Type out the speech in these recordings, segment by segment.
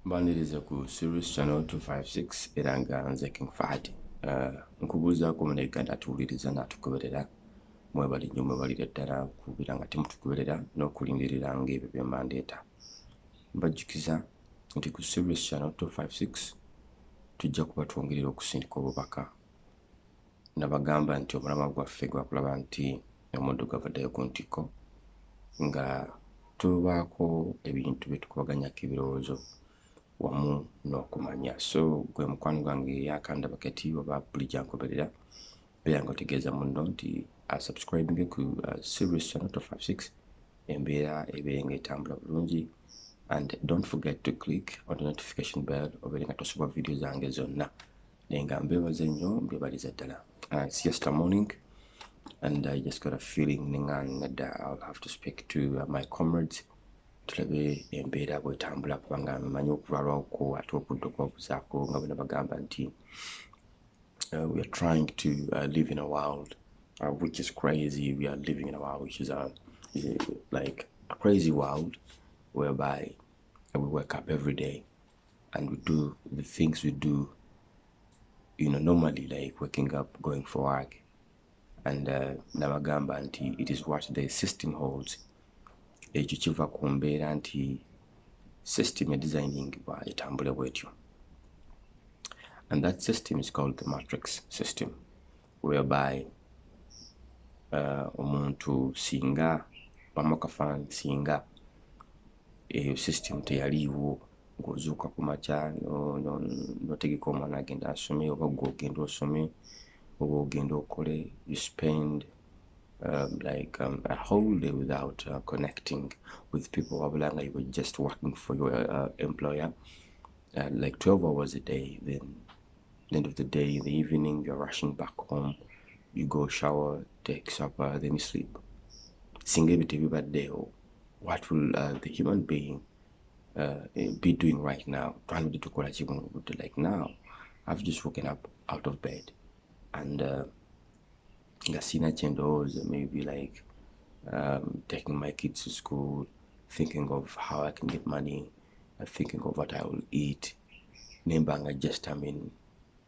mbaniriza ku series channel 256 era nga nze king fahad uh, nkubuuzaako muna uganda atuwuliriza naatugoberera mwebali nyo mwebalire ddala kubeera nga temutugoberera n'okulindirira ngaebyo byemandeeta mbajjukiza nti ku series channel 256 tujja kuba twongerera okusindika obubaka nabagamba nti omulamwa gwaffe gwakulaba nti omuddugavu addayo ku ntikko nga tubaako ebintu bye tukubaganyako ebirowoozo wamu n'okumanya so gwe mukwano gwange eyakandaba kati oba buli gyankoberera beera nga otegeeza munno nti asubscribinge ku uh, series channel to 56 embeera ebeere nga etambula bulungi and don't forget to click on the notification bell obeere nga tosubwa vidiyo zange zonna naye nga mbebaza nnyo mbebaliza ddala uh, it's just a morning and i just got a feeling ninga nadda i'll have to speak to uh, my comrades tulabe embeera bwetambula kubanga manyi okulwalwako ate okudda okubabuzaako nga bona bagamba nti uh, we are trying to uh, live in a world uh, which is crazy we are living in a world which is, a, uh, is a, like a crazy world whereby we wake up every day and we do the things we do you know normally like waking up going for work and uh, nabagamba nti it is what the system holds ekyo kiva ku mbeera nti system edesigningibwa etambule bwetyo and that system is called the matrix system whereby uh, omuntu singa bamukafaanyi singa eyo system teyaliiwo ng'ozuuka ku makya notegeka omwana agenda asome oba gwe ogenda osome oba ogenda okole you spend um, like um, a whole day without uh, connecting with people wabula nga you were just working for your uh, employer uh, like 12 hours a day then the end of the day in the evening you're rushing back home you go shower take supper then you sleep singa ebyo tebibaddeewo what will uh, the human being uh, eh, be doing right now twandibadde tukola ki buno obudde like now i've just woken up out of bed and uh, nga sina kyendowooza maybe like um, taking my kids to school thinking of how i can get money uh, thinking of what i will eat nembanga just i mean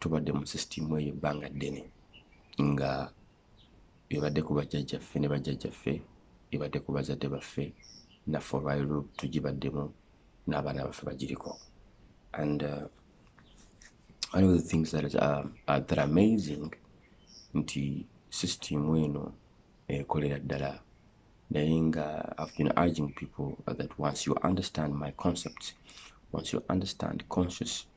tubadde mu sisitimu eyo ebbanga ddene nga ebadde ku bajjajjaffe ne bajjajjaffe ebadde ku bazadde baffe naffe olwaliro tugibaddemu n'abaana baffe bagiriko and uh, one of the things that is, uh, uh, that amazing nti sisitimu eno ekolera eh, ddala naye nga i've been urging people that once you understand my concepts once you understand conscious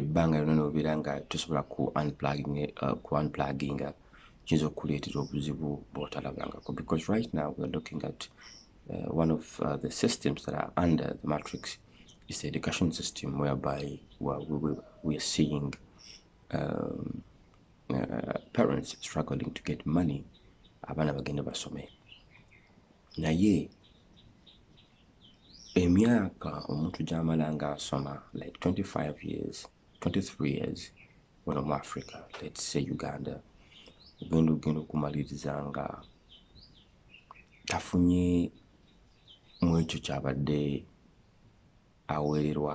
ebbanga lyona nobeera nga tosobola ku uh, unpluginga kiyinza okukuleetera obuzibu bwotalabangako because right now weare looking at uh, one of uh, the systems that are under the matrix is the education system whereby we, we, we, we are seeing um, uh, parents struggling to get money abaana bagenda basome naye emyaka omuntu gyamala nga asoma like 25 years 23 years wano mu africa let's say uganda ogenda ogenda okumaliriza nga tafunye mu ekyo kyabadde aweererwa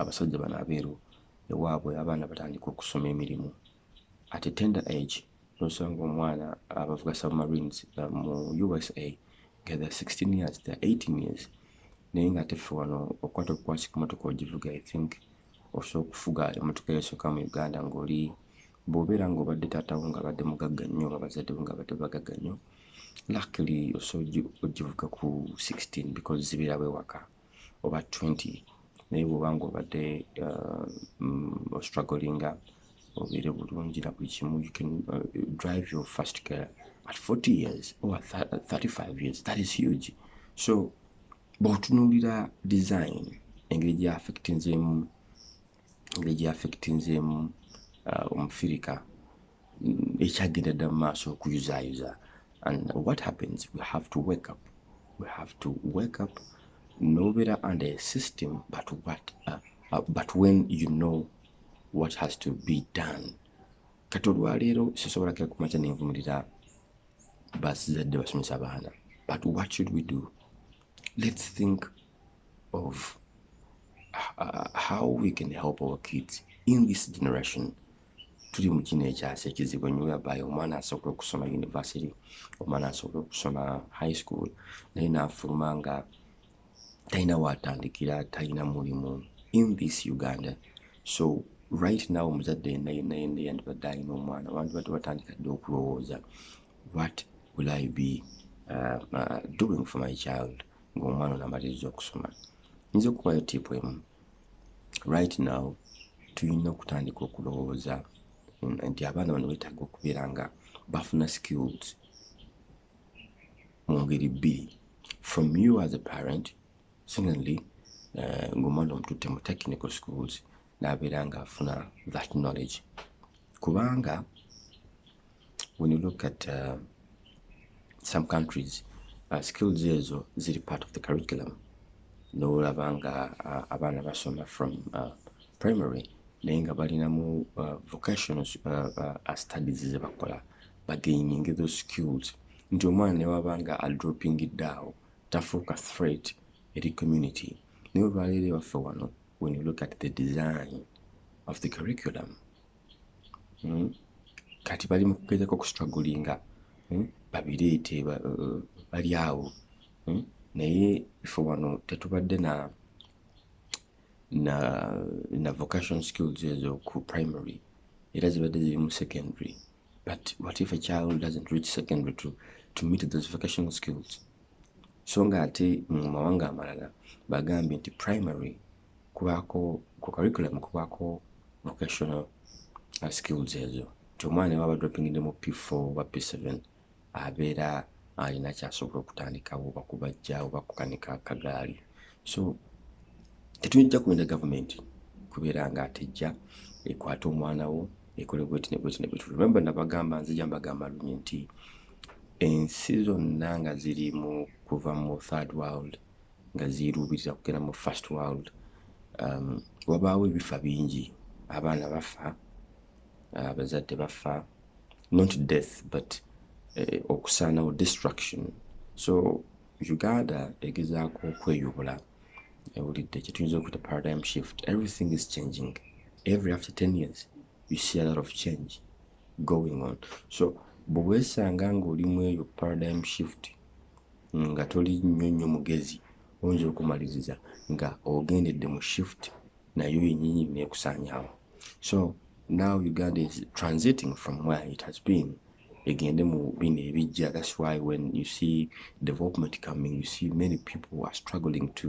abasajja bano abeeru ewaabwe abaana batandika okusoma emirimu at a tender age nosanga omwana abavuga submarines uh, mu usa nga the 16 years the 18 years naye nga ate ffe wano okukwata obukwasi ku motoka ogivuga i think osobola okufuga emotoka eyasoka mu uganda ngaoli bwobeera nga obadde taatawo nga abadde mugagga nnyo oba bazaddewo nga abadde bagagga nnyo luckily osobola ogivuga ku 16 because zibeera bwewaka oba 20 naye bwoba nga obadde uh, mm, ostrugglinga obeere bulungi na buli kimu you can uh, drive your first care at 40 years or 35 years that is huge so bwotunuulira design engeri gya affectinzeemu engeri gyeaffectinzeemu uh, omufirika mm, ekyagenda dda mu maaso okuyuzaayuza and what happens we have to wake up we have to wake up nobeera under a system but what uh, uh, but when you know what has to be done kati olwaleero sisobola kira kumakya nenvumirira basizadde basomesa abaana but what should we do let's think of uh, how we can help our kids in this generation tuli mu kino ekyasa ekizibu enyo whereby omwana asobola okusoma university omwana asobola okusoma high school naye naafuluma nga talina waatandikira talina mulimu in this uganda so right now omuzadde yenna yenna yenna yandibadde alina omwana wandibadde watandika dde okulowooza what will i be uh, uh, doing for my child ng'omwana onamaliriza okusoma nyinza okubayo tipu emu right now tulina okutandika okulowooza nti abaana bano betaaga okubeera nga bafuna skills mu ngeri bbiri from you as a parent secondly uh, ng'omwana omututte mu technical schools n'abeera ng'afuna that knowledge kubanga when you look at uh, some countries uh, skills ezo ziri part of the curriculum nolaba nga uh, abaana basoma from uh, primary naye nga balinamu uh, vocational uh, uh, studies zebakola bagaining those skills nti omwana newaba nga adropping daawo tafuuka threat eri community naye olwaleero ewaffe wano when you look at the design of the curriculum hmm? kati bali mu kugezako okustragulinga hmm? babireete uh, bali awo hmm? naye ife wano tetubadde na na na vocation skills ezo ku primary era zibadde ziri mu secondary but what if a child doesn't reach secondary to, to meet those vocational skills so nga ate mu mawanga amalala bagambye nti primary kubaako ku curriculum kubaako vocational uh, skills ezo nti omwana ewaba droppingide mu p4 oba p7 abeera alina kyasobola okutandikawo oba kubajja oba kukanika kagaali so tetuyinja kuwenda gavumenti kubeera nga atejja ekwata omwana wo ekole bweti nebweti nebweti remember nabagamba nzija mbagamba lunye nti ensi zonna nga ziri mu kuva mu third world nga ziruubiriza kugenda mu first world um, wabaawo ebifa bingi abaana bafa uh, abazadde uh, bafa not death but eh, okusaanawo destruction so uganda egezaako okweyubula ewulidde kyetuyinza okuta paradigm shift everything is changing every after 10 years you see a lot of change going on so bwewesanga ngaoli mu eyo paradigm shift nga toli nnyo nnyo mugezi oyinza okumaliriza nga ogendedde mu shift nayo yenyini nekusanyawo so now uganda is transiting from where it has been egende mu bino ebijja thats why when you see development coming you see many people are struggling to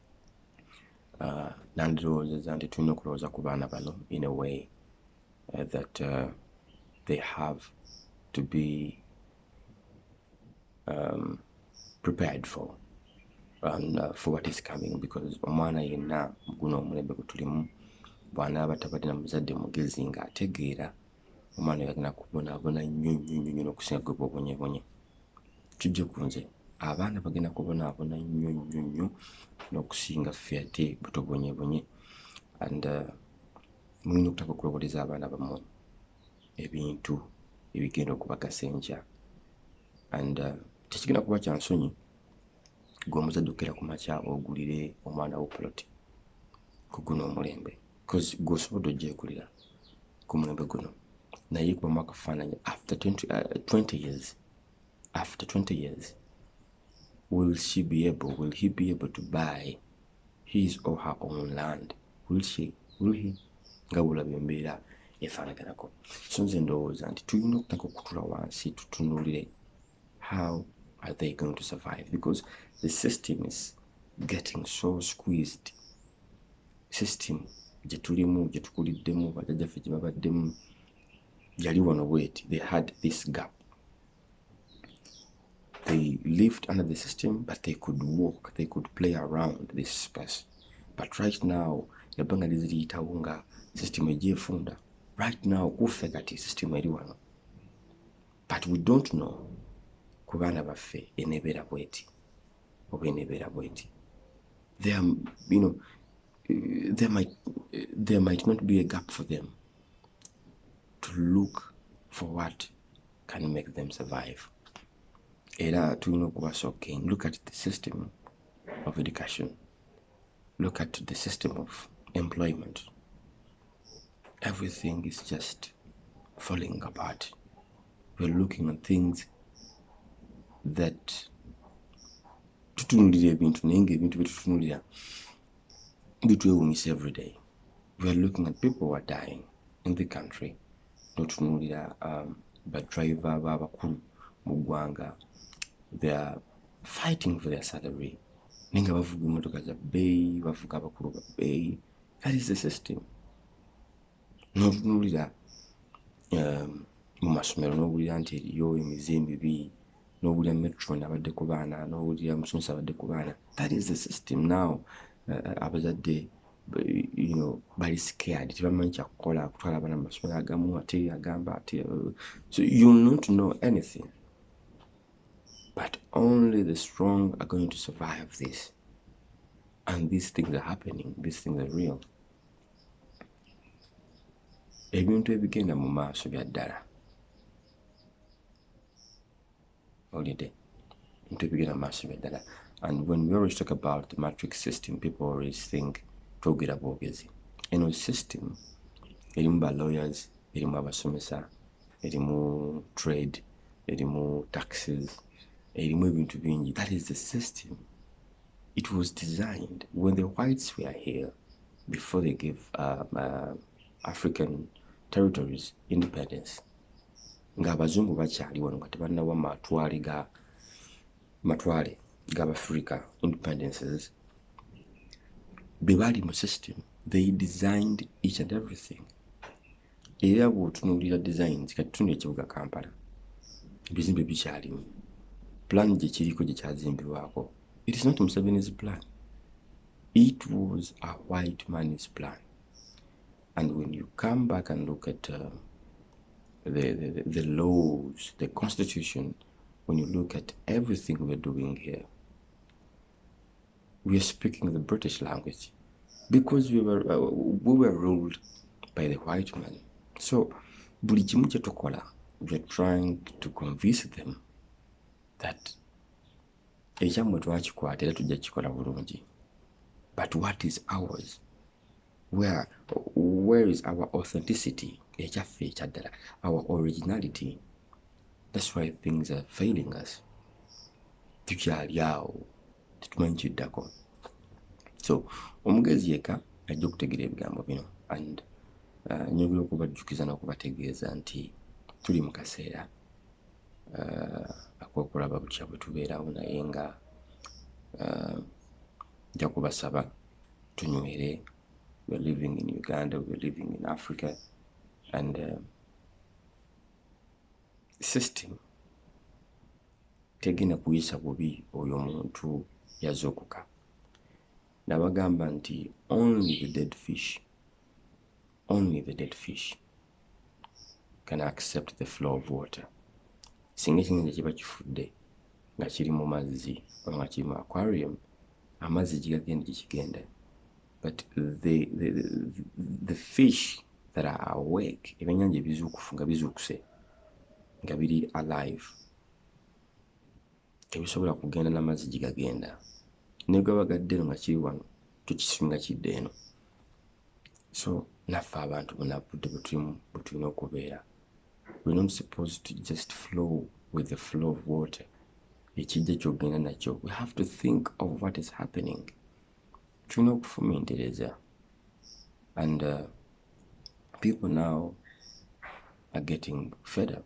uh, nandirowoozeza nti tulina okulowooza ku baana bano in a way uh, that uh, they have to be um, prepared for and uh, for what is coming because omwana yenna guno omulembe gwe tulimu bwanaaba tabadde na muzadde mugezi nga ategeera omwana yagenda kubonaabona nnyo nnyo nnyo nnyo n'okusinga gwe bwobonyebonye kijje ku nze abaana bagenda kubonaabona nnyo nnyo nnyo n'okusinga ffe ate butobonyebonye and uh, mulina okutaka okuloboleza abaana bammwe ebintu ebigenda okubagasa enkya and uh, tekigenda kuba kya nsonyi gwe omuzadde okukera ku makya ogulire omwana wo poloti ku guno omulembe because gwe osobola ogyekulira ku mulembe guno naye kubamu akafaananyi after 20, uh, 20 years after 20 years will she be able will he be able to buy his or her own land will she will he nga bulaba embeera efaanaganako so nze ndowooza nti tulina okutaka okutula wansi tutunulire how are they going to survive because the system is getting so squeezed system gye tulimu gye tukuliddemu bajajjaffe gye babaddemu yali wano bweti they had this gap they lived under the system but they could walk they could play around this space but right now ebbanga liziriyitawo nga system egyefunda right now kuffe kati system eri wano but we don't know ku baana baffe enebeera bweti oba enebeera bweti there you know there might there might not be a gap for them to look for what can make them survive era tulina okuba shocking look at the system of education look at the system of employment everything is just falling apart. We're looking at things that tutunulira ebintu naye ngaebintu byetutunulira bitwewunyisa everyday weare looking at people were dying in the country notunulira um, badriver babakulu mu ggwanga theyare fighting for their salary naye nga bavuga emotoka za bbeeyi bavuga abakulu ba bbeeyi that is the system notunulira um, mu masomero nowulira nti eriyo emize emibi nowulira metron abadde ku baana nowulira musomesa abadde ku baana that is the system now uh, abazadde you know bali scared tebamanyi kyakukola kutwala abaana mu masomero agamu ate agamba ate uh, so youll not know anything but only the strong are going to survive this and these things are happening these things are real ebintu ebigenda mu maaso bya ddala olide ebintu ebigenda mu maaso bya ddala and when we always talk about the matrix system people always think twogera bwogezi eno system erimu ba lawyers erimu abasomesa erimu trade erimu taxes erimu ebintu bingi that is the system it was designed when the whites were here before they gave um, uh, african territories independence ng'abazungu bakyali wano nga tebannawa matwale ga matwale g'abafrica independences be baali mu system they designed each and everything era bwotunuulira designs kati tuna ekibuga kampala ebizimbe bikyalimu plan gyekiriko gyekyazimbirwako it is not museveni's plan it was a white man's plan and when you come back and look at uh, the, the, the laws the constitution when you look at everything we're doing here we are speaking the british language because we were, uh, we were ruled by the white man so buli kimu kyetukola weare trying to convince them that ekyammwe twakikwata era tujja kikola bulungi but what is ours where, where is our authenticity ekyaffe ekyaddala our originality that's why things are failing us tukyali awo tetumanyi kiddako so omugezi yeka ajja okutegeera ebigambo bino and uh, nyobera okubajjukiza n'okubategeeza nti tuli mu kaseera uh, akokulaba butya bwe tubeerawo naye nga uh, nja kubasaba tunywere we're living in uganda we're living in africa and uh, system tegenda kuyisa bubi oyo omuntu yazuukuka nabagamba nti only the dead fish only the dead fish can accept the flow of water singa ekinyanja kiba kifudde nga kiri mu mazzi oba nga kiri mu aquarium amazzi gigagenda gyekigenda but the, the, the, the fish that are awake ebyenyanja ebizuukufu nga bizuukuse nga biri alive tebisobola kugenda na mazzi gye gagenda ne gaba gadde eno nga kiri wano tukisinga kidde eno so naffe abantu bunabudde bwetulimu bwetulina okubeera we not supposed to just flow with the flow of water ekijja kyogenda nakyo we have to think of what is happening tulina okufumintereza and uh, people now are getting fed up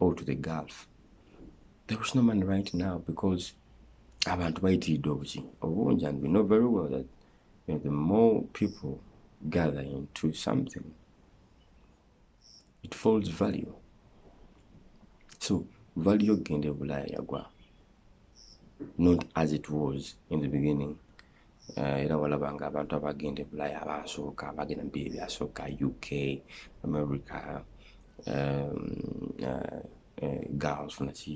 or to the gulf there is no money right now because abantu bayitiridde obuki obungi and we know very well that you know, the more people gather into something it falls value so value ogenda ebulaaya yagwa not as it was in the beginning Eh, era walaba nga abantu abagenda ebulaya abasooka abagenda mubiri byasooka uk america um, uh, uh, girls naki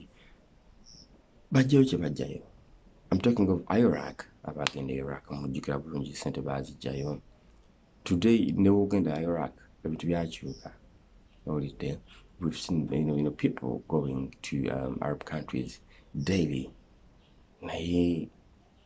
bajjayo kyebajjayo im talking of iraq abagenda e iraq mujjukira bulungi sente bazijjayo today newogenda e iraq ebintu byakyuka owulidde we've seen you know, you know, people going to um, arab countries daily naye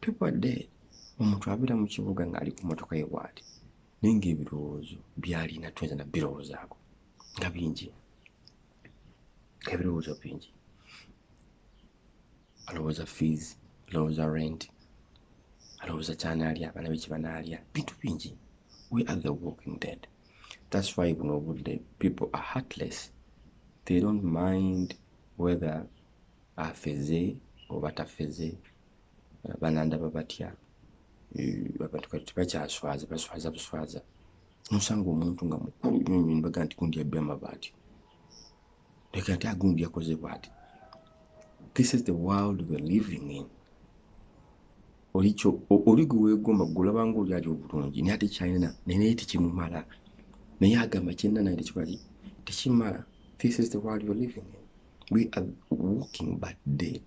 Tubadde omuntu abeera mu kibuga ng'ali ku mmotoka ye bw'ati naye ng'ebirowoozo by'alina tuyinza na birowoozaako nga bingi ebirowoozo bingi alowooza fees alowooza rent alowooza kyanaalya abaana be kibanaalya bintu bingi we are the walking dead that's why buno obudde people are heartless they don't mind whether afeze oba tafeze banandaba batya abantu kati tebakyaswaza baswaza buswaza nosanga omuntu nga mukulu nyonyo nibaga nti gundi yabbi amabaati leka ate agundi yakoze bwati this is the world we're living in olikyo oli gwe wegomba gulabanga oli ali obulungi naye ate kyalina naye naye tekimumala naye agamba kyena naye tekikolaki tekimala this is the world we're living in we are walking but dead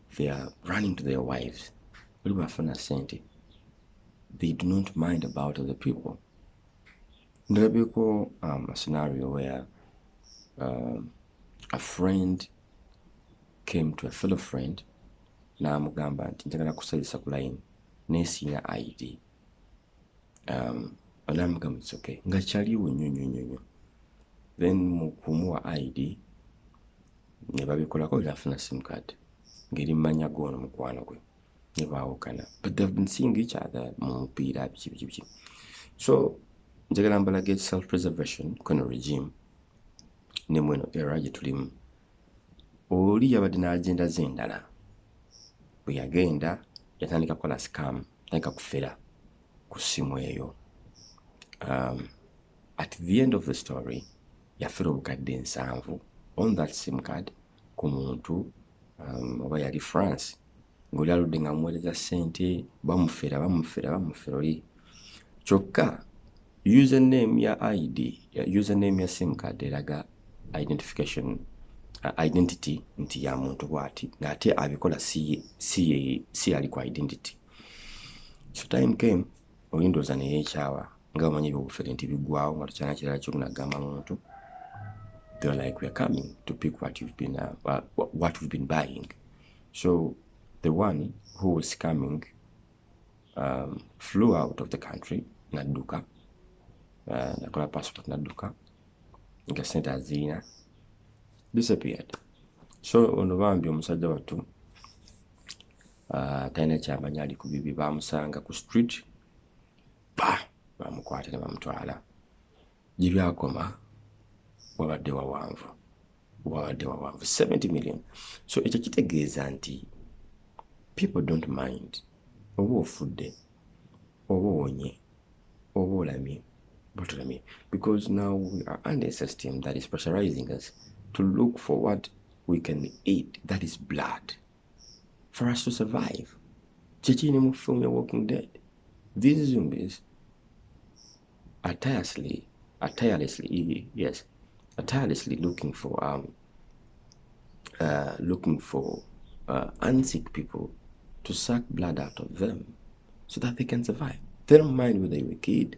they are running to their wives oli bafuna sente they do not mind about the people ndabeko um, a scenario where um, a friend came to a fellow friend n'amugamba nti njagala kusazisa ku line naye siina id um, olamugamba it's okay nga kyaliwo nnyo nnyo nnyo nnyo then mu kumuwa id ne babikolako nafuna simcard ngeri mumanya goono mukwano gwe ne baawukana but they've been seeing each other mu mupiira biki biki biki so njagala mbalage self preservation kweno regime ne mweno era gye tulimu oli yabadde n'agenda ze endala bwe yagenda yatandika kukola sikamu tandika kufera ku ssimu eyo um, at the end of the story yafera obukadde ensanvu on that sim card ku muntu um, oba yali france ngaoli aludde nga muweereza ssente bamufera bamufera bamufera oli kyokka username ya id username ya sim card eraga identification uh, identity nti ya muntu bwati ngaate abikola si yali ku identity so time came olindooza neyekyawa nga omanyi ebyobufere nti bigwawo nga tukyana kirala kyokunagamba muntu they're like we're coming to pick what you've been uh, uh, what we've been buying so the one who was coming um, flew out of the country nadduka uh, nakola passport nadduka nga sente aziina disappeared so ono bambi omusajja wattu ah, talina kyamanya ali ku bibi bamusanga ku street ba bamukwata ne bamutwala gye byakoma wabadde wawanvu wabadde wawanvu 70 million so ekyo kitegeeza nti people don't mind oba ofudde oba owonye oba olamye botolamye because now we are under a system that is pressurizing us to look for what we can eat that is blood for us to survive kyekiri ne mu film ya walking dead these zombies are tirelessly are tirelessly yes are tirelessly looking for um uh, looking for uh, unsick people to suck blood out of them so that they can survive they don't mind whether you're a kid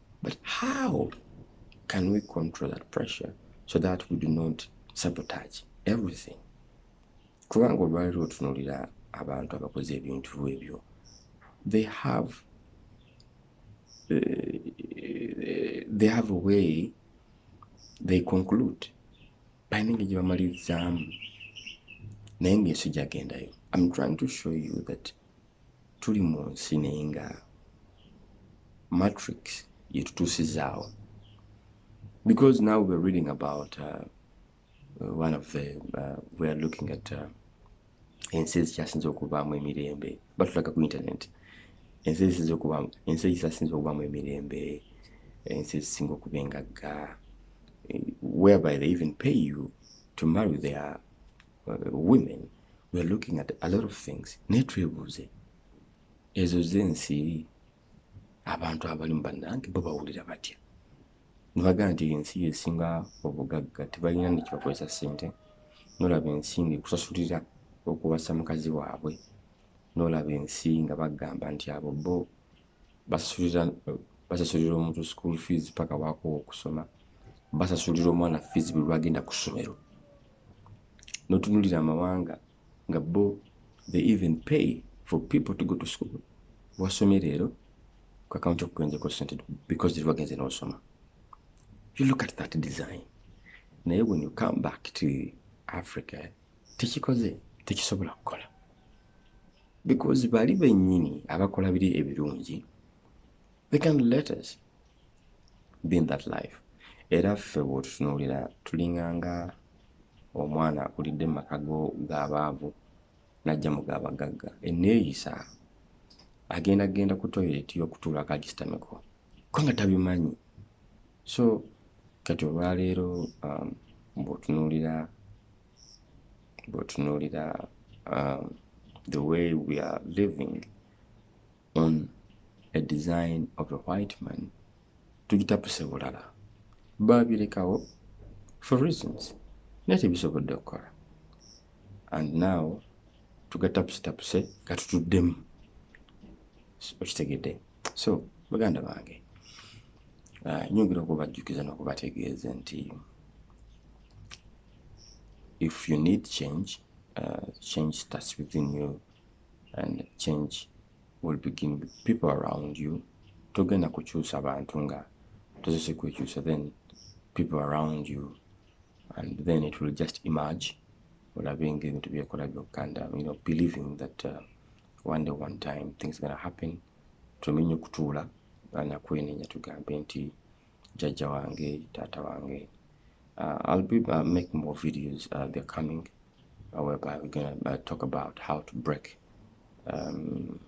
But how can we control that pressure so that we do not sabotage everything? Kubanga olwaliro otunulira abantu abakoze ebintu ebyo they have uh, they have a way they conclude balina engeri gye bamalirizaamu naye ng'ensi gyagendayo i'm trying to show you that tuli mu nsi naye nga matrix yetutuusizaawo because now we're reading about uh, one of the uh, weare looking at uh, ensi ezikyasinza okubaamu emirembe batulaga ku internet ensi ezisinza okubaamu ensi ezisasinza okubaamu emirembe ensi ezisinga okuba engagga eh, whereby they even pay you to marry their uh, women we are looking at a lot of things naye twebuuze ezo zensi abantu abalimu bannange bo bawulira batya nebagamba nti ensi yesinga obugagga tebalina nekibakozesa sente nolaba ensi nga ekusasulira okuwasa mukazi waabwe nolaba ensi nga bagamba nti abo bo basasulira omuntu school fees paka wakowa okusoma basasulira omwana fees buli lwagenda ku ssomero notunulira amawanga nga bo they even pay for people to go to school wasomye leero ku akaunti okugenzeeko sente because teri wagenze n'osoma you look at that design naye when you come back to africa tekikoze tekisobola kukola because bali bennyini abakola biri ebirungi they can let us be in that life era ffe bwotutunuulira tulinganga omwana akulidde mumaka go gabaavu najja mu gabagagga eneeyisa agenda genda ku toilet yokutuula akagistameko ko nga tabimanyi so kati olwaleero um, bwotunuulira bwotunuulira um, the way we are living on a design of a white man tugitapuse bulala baabirekawo for reasons naye tebisobodde okukola and now tugatapuse tapuse gatutuddemu okitegedde so baganda bange ah, nyongera okubajjukiza nokubategeeza nti if you need change uh, change starts within you and change will begin with people around you togenda kukyusa bantu nga tozese kwekyusa then people around you and then it will just emerge olabe nga ebintu byekola byokka and um, you know believing that uh, one day one time things gonna happen tumenye okutuula anakwenenya tugambe nti jajja wange taata wange uh, i'll be uh, make more videos uh, they're coming uh, whereby we're gonna uh, talk about how to break um,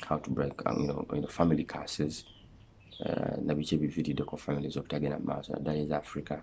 how to break um, you know, you know, family curses uh, nabiki ebivirideko families obutagenda mu maaso naddala eza africa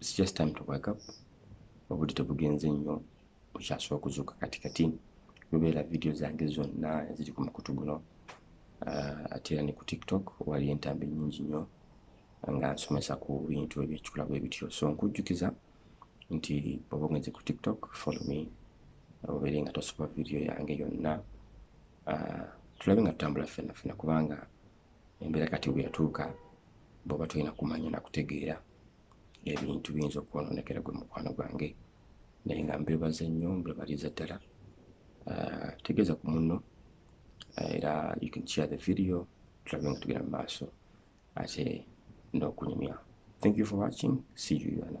it's just time to wake up obudde tebugenze nnyo okyasobola okuzuuka kati kati lubeera vidiyo zange zonna eziri ku mukutu guno uh, ate era ne ku tiktok wali entambi nyingi nnyo nga nsomesa ku bintu ebyekikula bwe bityo so nkujjukiza nti oba ogenze ku tiktok follow me obeere nga tosoba vidiyo yange yonna uh, tulabe nga tutambula ffenna ffenna kubanga embeera kati weyatuuka bwoba tolina kumanya nakutegeera ebintu biyinza okwononekera gwe mukwano gwange naye nga mbebaza nnyo mbebaliza ddala ah, tegeeza ku munno ah, era you can share the video tulabe nga tugenda mu maaso ate n'okunyumya thank you for watching see you another